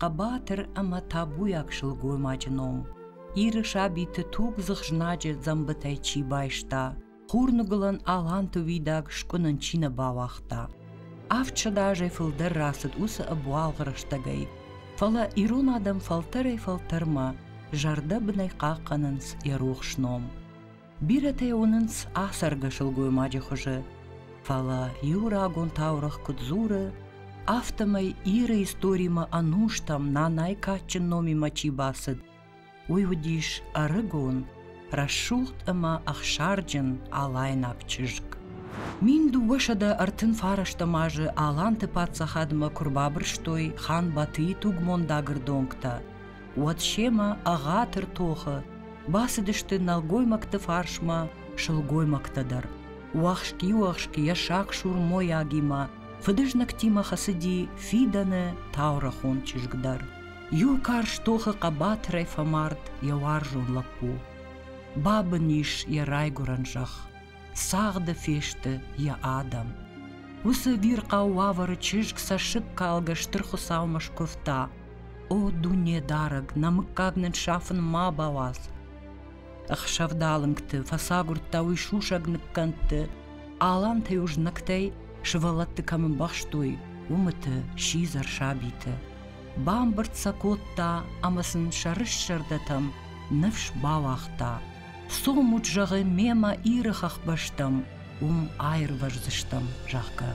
хъӕбатыр ӕмӕ табуйаг сылгоймаджы ном. Иры сабиты тугдзых знаджы дзӕмбытӕй чи байста, хурныгуылӕн аланты уидаг скъуынын чи нӕ бауагъта. Авд сӕдӕазӕй фылдӕр рацыд уыцы ӕбуалгъ рӕстӕгӕй, фӕлӕ ирон адӕм фӕлтӕрӕй-фӕлтӕрмӕ зӕрдӕбынӕй хъахъхъӕнынц йӕ рухс ном. Бирӕтӕ уынынц ацӕргӕ сылгоймаджы хуызы, фӕлӕ иу рагон таурӕгъ куыд дзуры, афтӕмӕй Иры историмӕ ӕнустӕм нанайы кадджын номимӕ чи бацыд, уый уыдис ӕрыгон, рӕсугъд ӕмӕ ӕхсарджын алайнаг чызг. Мин дыууӕсӕдӕ ӕртын фарӕстӕм азы Аланты паддзахадмӕ куы рбабырстой Хан Батыйы тугмондаг рдонгтӕ, уӕд семӕ ӕгъатыр тохы бацыдысты нӕлгоймӕгты фарсмӕ сылгоймӕгтӕ дӕр. Уӕхски-уӕхски йӕ сагсур мойагимӕ фыдызнӕгтимӕ хӕцыди фидӕны таурӕхон чызг дӕр. Иу карз тохы хъӕбатырӕй фӕмард йӕ уарзон лӕппу. Бабын ис йӕ райгуырӕн зӕхх. Цагъды фесты йӕ адӕм. Уыцы вирхъау уавӕры чызг цӕссыгкалгӕ стыр Хуыцаумӕ скуывта: О, Дунедарӕг, нӕ мыггаг нын сафын ма бауадз! Ӕхсӕвдалынгты фӕцагуырдта уый сусӕг ныккӕндты, алантӕй у знӕгтӕй сывӕллӕтты кӕм ӕмбӕхстой, уымыты сидзӕр сабиты. Бамбырд сӕ кодта ӕмӕ сын сӕрыссӕрдӕтӕм ныфс бауагъта. Цомут зӕгъы мемӕ Иры хӕхбӕстӕм, уым аирвӕздзыстӕм, зӕгъгӕ.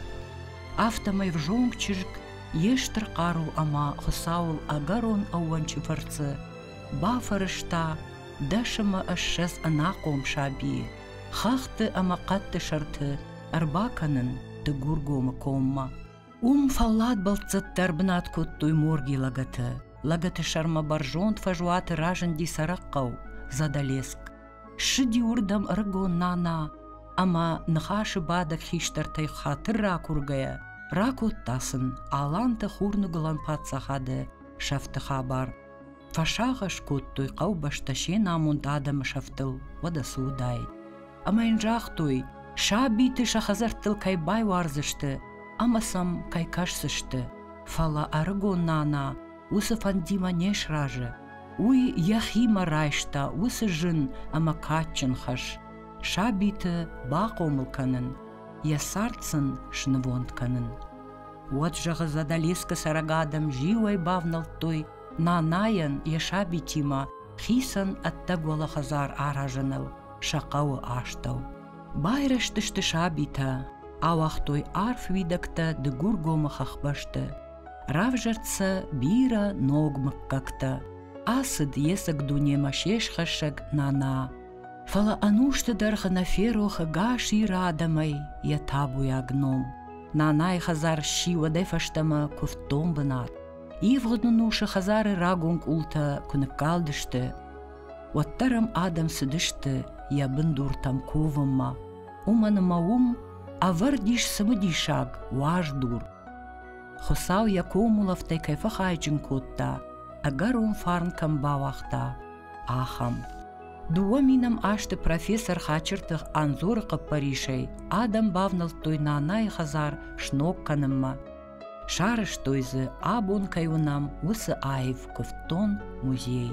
Афтӕмӕй взонг чызг йе стыр хъару ӕмӕ Хуыцауыл ӕгӕрон ӕууӕнчы фӕрцы бафӕрӕзта дӕс ӕмӕ ссӕдз ӕнахъом сабийы, хӕхты ӕмӕ хъӕдты сӕрты ӕрбакӕнын Дыгургомы коммӕ. Уым фӕллад бӕлццӕттӕ ӕрбынат кодтой морги лӕгӕты. Лӕгӕты сӕрмӕ бӕрзонд фӕзуаты разынди сӕрӕхъӕу Задалеск. Ссыди уырдӕм ӕрыгон нана ӕмӕ ныхасы бадӕг хистӕртӕй хатыр ракургӕйӕ ракодта сын Аланты хурныгуылӕн паддзахады сӕфты хабар. Фӕсагъӕс кодтой хъӕубӕстӕ се намонд адӕмы сӕфтыл, уӕдӕ цы уыдаид. Ӕмӕ йын загътой, сабиты сӕ хӕдзӕрттыл кӕй байуардзысты ӕмӕ сӕм кӕй кӕсдзысты. Фӕлӕ ӕрыгон нана уыцы фӕндимӕ не сразы. Уый йӕхимӕ райста уыцы зын ӕмӕ кадджын хӕс – сабиты бахъомыл кӕнын, йӕ цард сын снывонд кӕнын. Уӕд зӕгъы Задӕлескы цӕрӕг адӕм зиуӕй бавнӕлдтой Нанайӕн йӕ сабитимӕ хицӕн ӕддӕг уӕлӕхӕдзар аразыныл сӕ хъӕуы астӕу. Байрӕзтысты сабитӕ, ауагътой арф уидӕгтӕ Дыгургомы хӕхбӕсты, равзӕрд сӕ бирӕ ног мыггӕгтӕ. Ацыд есӕг дунемӕ се схӕссӕг Нана, Фӕлӕ ӕнусты дӕргъы нӕ ферохы гас иры адӕмӕй йӕ табуйаг ном. Нанайы хӕдзар сси уӕдӕй фӕстӕмӕ куывддон бынат. Ивгъуыд ӕнусы хӕдзары рагон къултӕ куы ныккалдысты, уӕддӕр ӕм адӕм цыдысты йӕ бындуртӕм кувынмӕ. Уымӕн ӕмӕ уым ӕвӕрд ис цымыдисаг уаздур. Хуыцау йӕ комулӕфтӕй кӕй фӕхайджын кодта, ӕгӕрон фарн кӕм бауагъта, ахӕм. Дыууӕ минӕм азты профессор Хачырты Анзоры хъӕппӕрисӕй адӕм бавнӕлдтой нанайы хӕдзар сног кӕнынмӕ. Сарӕзтой дзы, абон кӕй уынӕм, уыцы аив куывддон музей.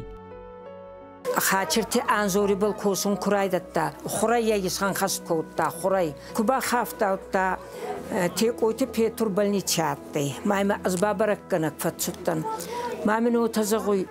Хачырти Анзори был кусын куы райдыдта, хурӕй йӕ исхӕнхӕст кодта, хурӕй. Куы бахафтаудта Текъоты Петур больницӕттӕй. Мӕ ӕз бабӕрӕггӕнӕг фӕцудтӕн. Мӕ мын уотӕ зӕгъуй,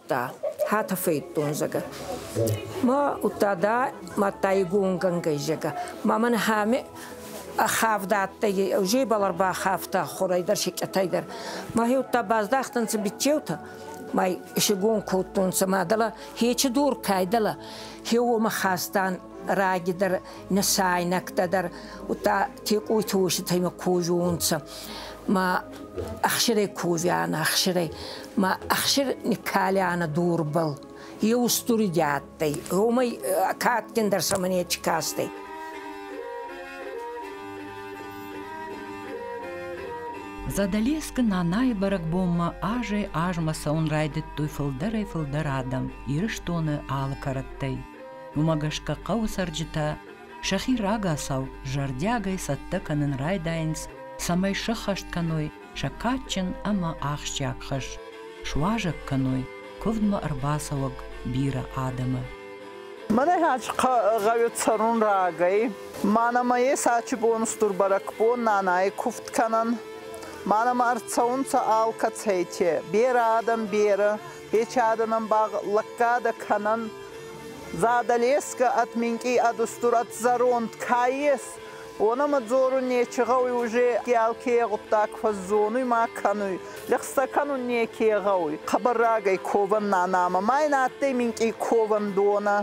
удта хӕтӕ фӕййидтон, зӕгӕ. Ма удта да мадтайи гонгӕнгӕй, зӕгӕ. Ма мӕн хӕме хӕвд адтӕй, зейбӕл ӕрбахафта хурӕй дӕр, секъетӕй дӕр. Мӕхе удта баздахтӕнцӕ биччеутӕ, ма исигон кодтонцӕ, ма дӕлӕ хечи дор кайдала, хе уомӕ хастан раги дӕр, нӕ сайнӕгтӕ дӕр, удта текъойти уоситӕй ма козонцӕ. Ма ӕхсирӕй ковиан, ӕхсирӕй, ма ӕхсир никкалиана дурбал, е устури ди адтӕй, омӕй кадгиндӕр самонечи кастӕй. Задолеск Нанайы бӕрӕгбонмӕ азӕй азмӕ цӕуын райдыдтой фылдӕрӕй-фылдӕр адӕм Ирыстоны алы кӕрӕттӕй. Уымӕ гӕсгӕ хъӕуы цӕрджытӕ сӕхи рагацау зӕрдиагӕй цӕттӕ кӕнын райдайынц, цӕмӕй сӕххӕст кӕной сӕ кадджын ӕмӕ ахсджиаг хӕс, суазӕг кӕной куывдмӕ ӕрбацӕуӕг бирӕ адӕмы. Мӕнӕ хач гъӕуы цӕрун рагӕй. Ма нӕмӕ е Сачибон устур бӕрӕгбон нанай кувд кӕнӕн. Ма нӕмӕ ӕрцӕунцӕ алкӕцӕйти, берӕ адӕн берӕ, Ечи адӕнӕн баг лӕггадӕ кӕнӕн. Задӕлесгӕ ӕт минкъий ӕдустур ӕт зӕронд ка ес, уонӕмӕ дзорун нечи гъӕуй, уже алке гъуддаг фӕззонуй ма кӕнуй, лӕгъстӕ кӕнун неке гъӕуй. Хъӕбӕррагӕй ковӕн нанамӕ ма ин адтӕй минкъий ковӕндонӕ.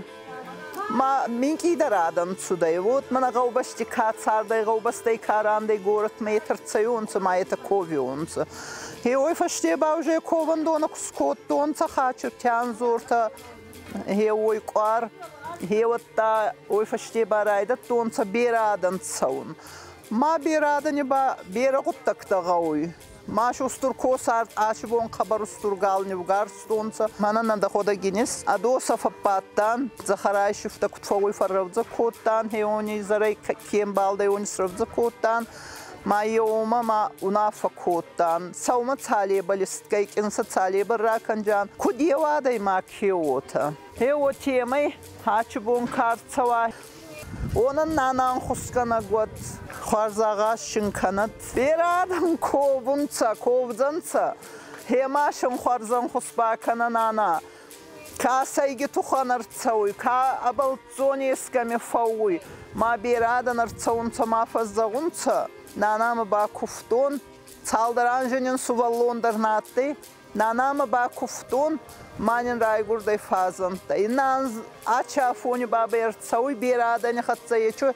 Ма минкъийдӕр адӕм цудӕй, уот мӕнӕ гъӕубӕсти ка цардӕй, гъӕубӕстӕй ка рандӕй горӕтмӕ, е тӕрцӕйунцӕ ма етӕ ковиунцӕ. Гьеуой фӕсте ба уже ковӕндонӕ куст кодтонцӕ Хачиртиан дзортӕ, гьеуой къуар, гьеуӕдта уой фӕсте ба райдӕдтонцӕ берӕ адӕн цӕун. Ма берӕ адӕни ба берӕ гъуддӕгтӕ гъӕуй. Маш устур ко цард ӕсибон хъӕбӕр устур гал нивгарстонцӕ. Мӕнӕн нӕ доходӕ Гиннес ӕдосӕ фӕббадтан, Захарай шифта куд фӕууй фӕррӕвдзӕ кодтан, хеони зарӕй кембалдӕй уони срӕвдзӕ кодтан, ма еомӕ ма унаффӕ кодтан. Сӕумӕ цалебӕ листгай къинсӕ цалебӕ ракӕнджан, куд еу адӕймаг хеуотӕ. Е уотемӕй хачи бон кард цӕуа, Уонӕн нанӕнхусгӕнӕг уӕд хуӕрзагъазшин кӕнӕд. Берӕ адӕм ковунцӕ, ковдзӕнцӕ. Хемӕ син хуӕрзӕнхус бакӕнӕ нана. Ка сӕйги тухӕн ӕрцӕуй, ка ӕ бӕлццони ескӕми фӕууй. Ма берӕ адӕн ӕрцӕунцӕ ма фӕззӕгъунцӕ. Нанамӕ ба кувтон. Цалдӕр анзи нин сувӕллон дӕр нӕ адтӕй. Нанамӕ бакувтон, ма нин райгурдӕй фӕзӕнттӕй. Нан ачи афони бабӕй ӕрцӕуй берӕ адӕни хӕццӕ ечо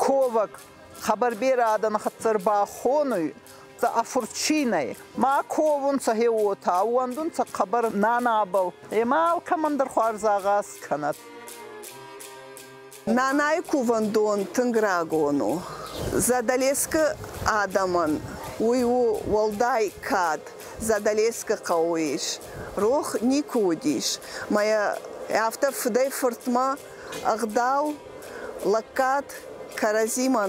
ковӕг. Хабар берӕ адӕни хӕццӕ ӕрбахонуй, цӕ афурчинӕй. Ма ковунцӕ хе уотӕ, ӕууӕндунцӕ хъӕбӕр нанабӕл. Ема алкӕмӕн дӕр хуарз агъаз кӕнӕд. Нанайы кувӕндон тынг рагон у. Задӕлескы адӕмӕн уый у уӕлдай кад. Задӕлескы хъӕуы ис рох никуы уыдис мӕ афтӕ фыдӕй-фыртмӕ ӕгъдау, лӕггад кӕрӕдзимӕ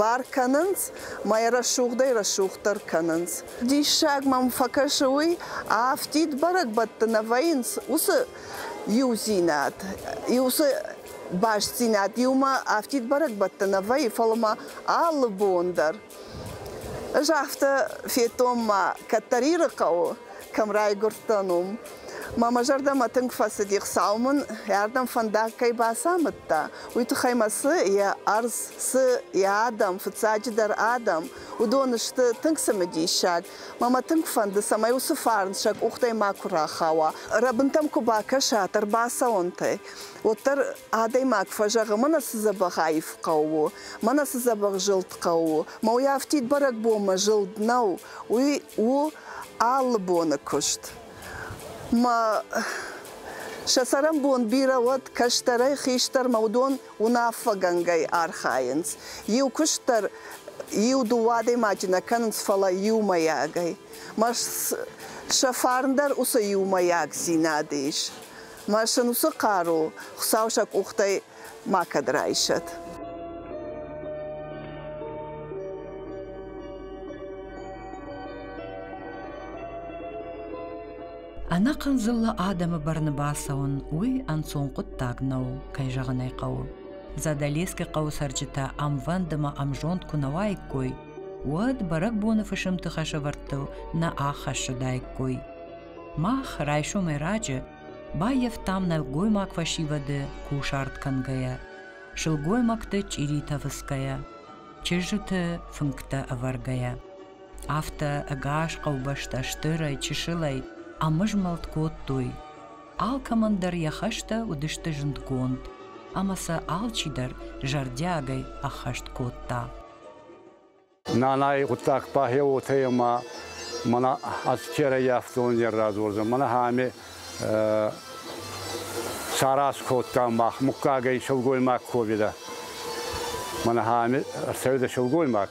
бар кӕнынц мӕ рӕсугъдӕй-рӕсугъддӕр кӕнынц. Диссаг мӕм фӕкӕсы уый, афтид бӕрӕгбӕтты нӕ вӕййынц уыцы иудзинад. Иуцы бастдзинад иумӕ афтид бӕрӕгбӕтты нӕ вӕййы, фӕлӕ ма алы бон дӕр. Ӕз афтӕ федтон ма кӕддӕр Иры хъӕуы, кӕм райгуырдтӕн, уым. Ма мӕ зӕрдӕмӕ тынг фӕцыди, Хуыцау мын ӕрдӕм фӕндаг кӕй бацамыдта, уый тыххӕй мӕ цы йӕ ӕрдз, цы йӕ адӕм, фыццаджыдӕр адӕм, уыдон сты тынг цымыдисаг. Мамӕ тынг фӕнды, цӕмӕй уыцы фарн сӕ къухтӕй макуы рахауа. Рӕбынтӕм куы бакӕсат ӕрбацӕуӕнтӕй, уӕддӕр адӕймаг фӕзӕгъы, Мӕнӕ цы дзӕбӕх аив хъӕу у, мӕнӕ цы дзӕбӕх зылд хъӕу у, мӕ уӕфтид бӕрӕгбонмӕ зылд нӕу, уый у алы боны куыст. Мӕ сӕ цӕрӕнбон бирӕ уӕд кӕстӕрӕй хистӕрмӕ уыдон уынаффӕгӕнгӕй архайынц. Иу куыст дӕр иу-дыууӕ адӕймаджы нӕ кӕнынц, фӕлӕ иумӕйагӕй. Мӕ сӕ фарн дӕр уыцы иумӕйагдзинады ис. Мӕ сын уыцы хъару Хуыцау сӕ къухтӕй макӕд райсӕд. Ӕнӕхъӕн дзыллӕ адӕмы бӕрны бацӕуын уый ӕнцон хъуыддаг нӕу, кӕй зӕгъын ӕй хъӕуы. Задалески хъӕуы цӕрджытӕ ӕмвӕнд ӕмӕ ӕмзонд куы нӕ уаиккой, уӕд бӕрӕгбоны фысымты хӕсӕвӕрдтыл нӕ аххӕссыдаиккой. Мах, райсомӕй раджы, баййӕфтам нӕлгоймаг фӕсивӕды кусарт кӕнгӕйӕ, сылгоймӕгты чъиритӕ фыцгӕйӕ, чызджыты фынгтӕ ӕвӕргӕйӕ. Афтӕ ӕгас хъӕубӕстӕ стырӕй, чысылӕй ӕмызмӕлд кодтой. Алкӕмӕн дӕр йӕ хӕстӕ уыдысты зындгонд, ӕмӕ сӕ алчидӕр зӕрдиагӕй ӕххӕст кодта. Нанайы хъуыддаг пӕхе уотӕ ӕма мӕнӕ ацчерӕй ӕфтон не радзордзӕн. Мӕнӕ ами сараз кодта мах муггагӕй сылгоймаг ковидӕ. Мӕнӕ ами ӕрцӕуидӕ сылгоймаг.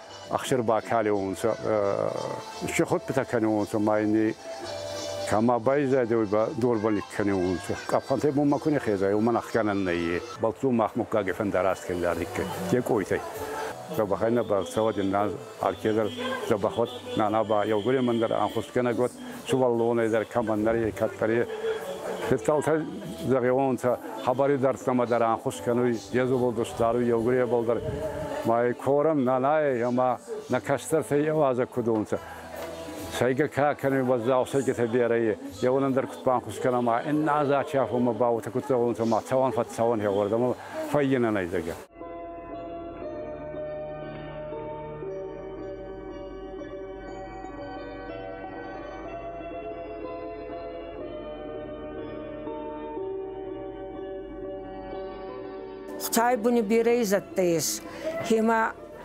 ӕхсир бакалеуонцӕ, сихудтитӕ кӕнеуонцӕ ма инни кӕма байзайдеуй ба дорбаник кӕнеуонцӕ. Къӕпхӕнтӕй бон макуни хезӕй, уомӕн ӕхгӕнӕн нӕййе. Бӕлццон мах муггаги фӕндараст кӕндӕ никке, те къойтӕй. Дзӕбӕхӕй нӕ бафтауӕд ин нан, алкедӕр дзӕбӕх уӕд. Нана ба еугуремӕн дӕр ӕнхус кӕнӕг уӕд. сувӕллонӕй дӕр кӕмӕн нӕри, кӕддӕри Федталтӕ зӕгъеуонцӕ, хабари дӕрдтӕмӕ дӕр ӕнхус кӕнуй, дедзуболдос даруй еугуребӕл дӕр ма ӕй корӕн нанайӕй ӕма нӕ кӕстӕртӕй еуазӕг куд унцӕ. Сӕйгӕ ка кӕнуй бӕззау сӕйгетӕ берӕй, еуонӕн дӕр куд банхус кӕнӕ ма иннӕ зачъахунмӕ ба уотӕ куд зӕгъунцӕ, ма цӕуӕн фӕццӕуӕн хеуӕрдӕмӕ фӕййенӕн ӕй зӕгӕ. Хъуытай боны бирӕ изӕдтӕ ис. Гъемӕ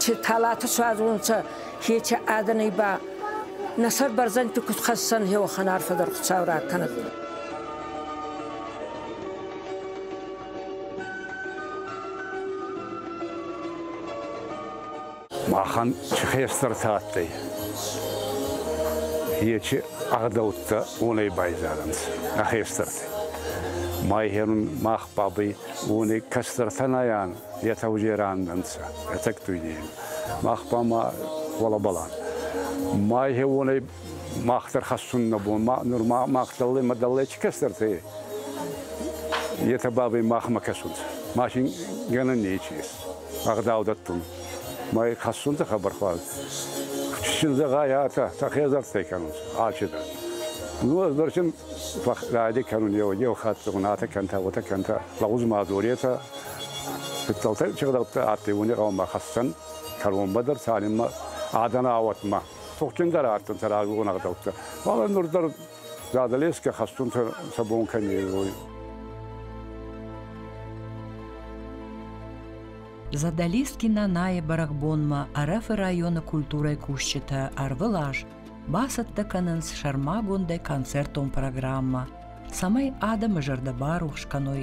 Чи талати суадзунцӕ, хече адӕнӕй ба нӕ сӕр бӕрзӕндти куд хӕссӕн, уӕхӕн арфӕ дӕр Хуцау ракӕнӕд. Махӕн хестӕртӕ адтӕй. Ечи ӕгъдӕуттӕ уонӕй байзадӕнцӕ, ӕ хестӕртӕй. Май хенун мах бабӕй уонӕй кӕстӕртӕ найан, етӕ уе ран ӕнцӕ, етӕг туйнейн. Мах ба ма уӕлӕбӕлӕн. Ма хеуонӕй мах дӕр хӕссун нӕ бон, нур мах дӕлле, ма дӕлле чи кӕсдӕртӕй? Етӕ бабӕй махмӕ кӕсунцӕ. Машин гӕнӕн нечес. Ӕгъдау дӕттун. Май хӕссунцӕ хабархуар. Чын зӕгъайатӕ, тахезартӕй кӕнунцӕ, ачедан. Ну, ez bölcsön rajdi kerül, hogy jó, hát unata kenta, uta kenta, laguzma az óriáta, Фыццалтӕ чырдӕрттӕ ӕтти уни гъӕумӕ хӕссӕн кӕронбӕ дӕр цалинмӕ адӕна ауатмӕ. Тухтиндӕр ӕртӕнтӕ раргон ӕгъдӕуттӕ. Вала нур дӕр задалеске хӕссунтӕ сӕ бон кӕми уой. Задалескина найы бӕрӕгбонмӕ Ӕрӕфы районы культурӕйы кусджытӕ ӕрвылаз бацӕттӕ кӕнынц сӕрмагондӕй концертон программӕ, цӕмӕй адӕмы зӕрдӕ барухс кӕной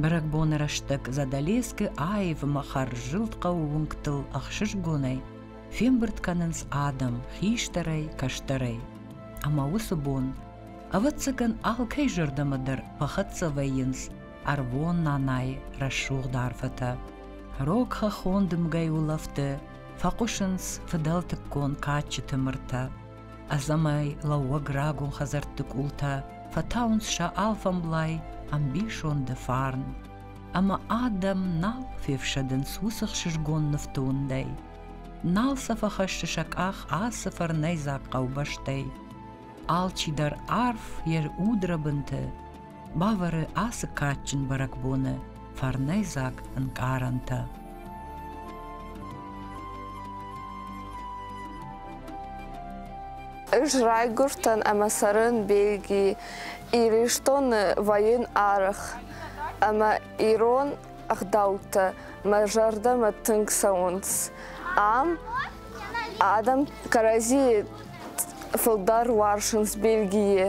Бӕрӕгбоны рӕстӕг Задолескы аивмӕ хӕрззылд хъӕуы уынгтыл ӕхсызгонӕй фембырд кӕнынц адӕм хистӕрӕй, кӕстӕрӕй. Ӕмӕ уыцы бон, ӕвӕццӕгӕн, алкӕй зӕрдӕмӕ дӕр фӕхӕццӕ вӕййынц ӕрвон нанайы рӕсугъд арфӕтӕ. Рог хӕххон дымгӕйы улӕфты фӕхъуысынц фыдӕлтыккон кадджыты мыртӕ, Азӕмӕй лӕууӕг рагон хӕдзӕртты къултӕ фӕтауынц сӕ алфӕмблай ӕмбисонды фарн, ӕмӕ адӕм нал фефсӕдынц уыцы хсызгон нывты уындӕй, нал сӕ фӕхӕссы сӕ къах ацы фӕрнӕйдзаг хъӕубӕстӕй. Алчидӕр арф йӕ удрӕбынты бавӕры ацы кадджын бӕрӕгбоны фӕрнӕйдзаг ӕнкъарӕнтӕ. Ис райгуырдтӕн ӕмӕ цӕрын Бельгийы, Ирыстоны воен арӕх ӕмӕ ирон ӕгъдӕуттӕ мӕ зӕрдӕмӕ тынг цӕуынц. Ам адӕм кӕрӕдзийы фылдӕр уарзынц Бельгийы,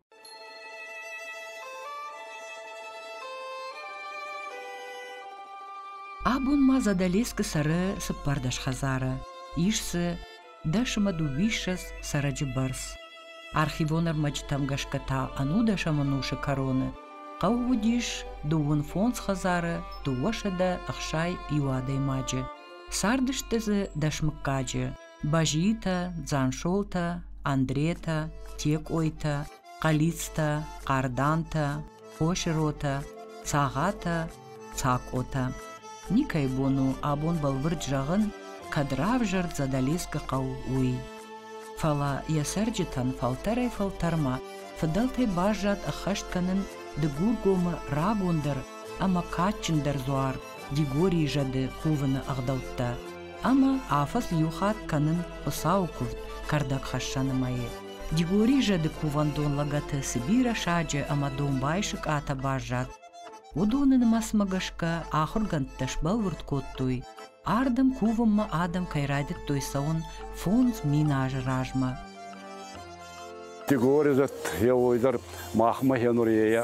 Абон ма Задӕлескы цӕры цыппӕрдӕс хӕдзары. Ис дзы дӕсӕмӕ дыууиссӕдз цӕрӕджы бӕрц. Архивон ӕрмӕджытӕм гӕсгӕ та ӕнудӕсӕм ӕнусы кӕроны хъӕу уыдис дыууын фондз хӕдзары, дыууӕсӕдӕ ӕхсай иу адӕймаджы. Цардысты дзы дӕс мыггаджы, бӕзиитӕ дзаншолтӕ андретӕ текъойтӕ хъӕлицтӕ хъардантӕ хосиротӕ цагъатӕ цакъотӕ никӕй бон у абон бӕлвырд зӕгъын кӕд равзӕрд задӕлескы хъӕу уый фӕлӕ йӕ цӕрджытӕн фӕлтӕрӕй фӕлтӕрмӕ фыдӕлтӕй баззад ӕххӕст кӕнын дыгургомы рагондӕр ӕмӕ кадджындӕр дзуар дигорийы зӕды кувыны ӕгъдӕуттӕ ӕмӕ афӕдз иу хатт кӕнын Хуыцауы куывд кӕрдӕгхӕссӕны мӕйы. Дигори зӕды кувӕндон лӕгӕты цы бирӕ саджы ӕмӕ домбайы сыкъатӕ баззад, уыдоны нымӕцмӕ гӕсгӕ ахуыргӕндтӕ сбӕлвырд кодтой, ардӕм кувынмӕ адӕм кӕй райдыдтой цӕуын фондз мин азы размӕ. Дигори зӕд йӕ уой дӕр махмӕ хенур ейӕ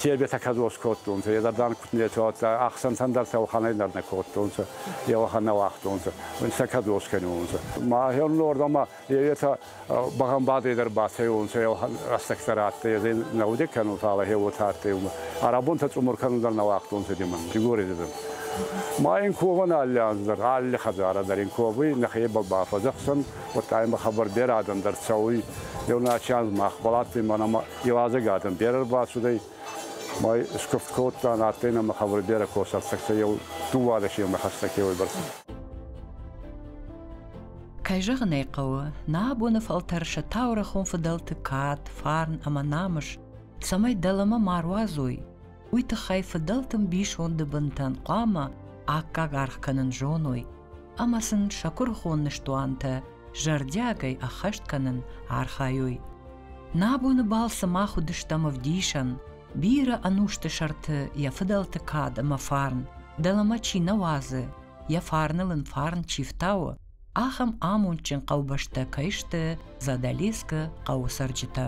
Тербетӕ кӕдос кодтонцӕ, едардан кутне туӕттӕ ӕхсӕнтӕн дӕр цӕлханӕй дӕр нӕ кодтонцӕ, еуӕхӕн нӕ уагътонцӕ, ун сӕ кӕдос кӕнонцӕ. Ма хёрнордӕмӕ еветӕ бӕгъӕмбадӕй дӕр бацӕйонцӕ еуӕхӕн рӕстӕгтӕ радтӕ, езӕй нӕ гъуди кӕнун, фал ӕ хеуотӕ адтӕй, уомӕ. Арабонтӕ цъумур кӕнун дӕр нӕ уагътонцӕ Демӕн, Дигореди дӕр. Ма ин ковӕн алли анз дӕр, алли хӕдзарӕ дӕр ин ковуй, нӕхе ба бафӕдзӕхсӕн, уӕдта имӕ хабар берӕ адӕм дӕр цӕуй. Еуначи анз мах Балатӕй ма нӕма иуазӕг адӕм берӕ рбацудӕй. Ма скуфт кодта, адтӕй нӕмӕ хабар берӕ косӕрцӕгтӕ, еу дууадӕс еумӕ хӕстӕ кеуйбӕрцӕ. Кӕй зӕгъын ӕй хъӕуы, нӕ абоны фӕлтӕр сӕ таурӕхон фыдӕлты кад, фарн ӕмӕ намыс, цӕмӕй дӕлӕмӕ ма руадзой, уый тыххӕй фыдӕлты мбисонды бынтӕн хъуамӕ аккаг аргъ кӕнын зоной, ӕмӕ сын сӕ куырыхон ныстуантӕ зӕрдиагӕй ӕххӕст кӕнын архайой. Нӕ абоны бал сымах уыдыстӕм ӕвдисӕн, бирӕ ӕнусты сӕрты йӕ фыдӕлты кад ӕмӕ фарн, дӕлӕмӕ чи нӕ уадзы, йӕ фарныл ын фарн чи фтауы, ахӕм амондджын хъӕубӕстӕ кӕй сты Задолескы хъӕуы цӕрджытӕ.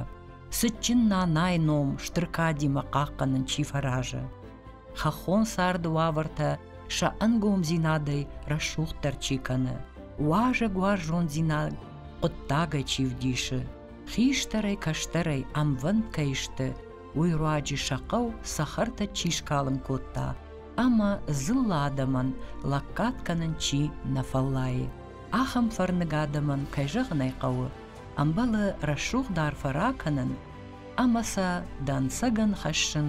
Цытджын Нанайы ном стыр кадимӕ хъахъхъӕнын чи фӕразы, Хӕххон царды уавӕртӕ сӕ ӕнгомдзинадӕй рӕсугъддӕр чи кӕны, уазӕгуарзондзинад хъуыддагӕй чи вдисы, хистӕрӕй, кӕстӕрӕй ӕмвӕнд кӕй сты, уый руаджы сӕ хъӕу цӕхӕртӕ чи скалын кодта ӕмӕ дзыллӕ адӕмӕн лӕггад кӕнын чи нӕ фӕллайы. Ахӕм фӕрныг адӕмӕн, кӕй зӕгъын ӕй хъӕуы, ӕмбӕлы рӕсугъд арфӕ ракӕнын ӕмӕ сӕ дӕнцӕгӕн хӕссын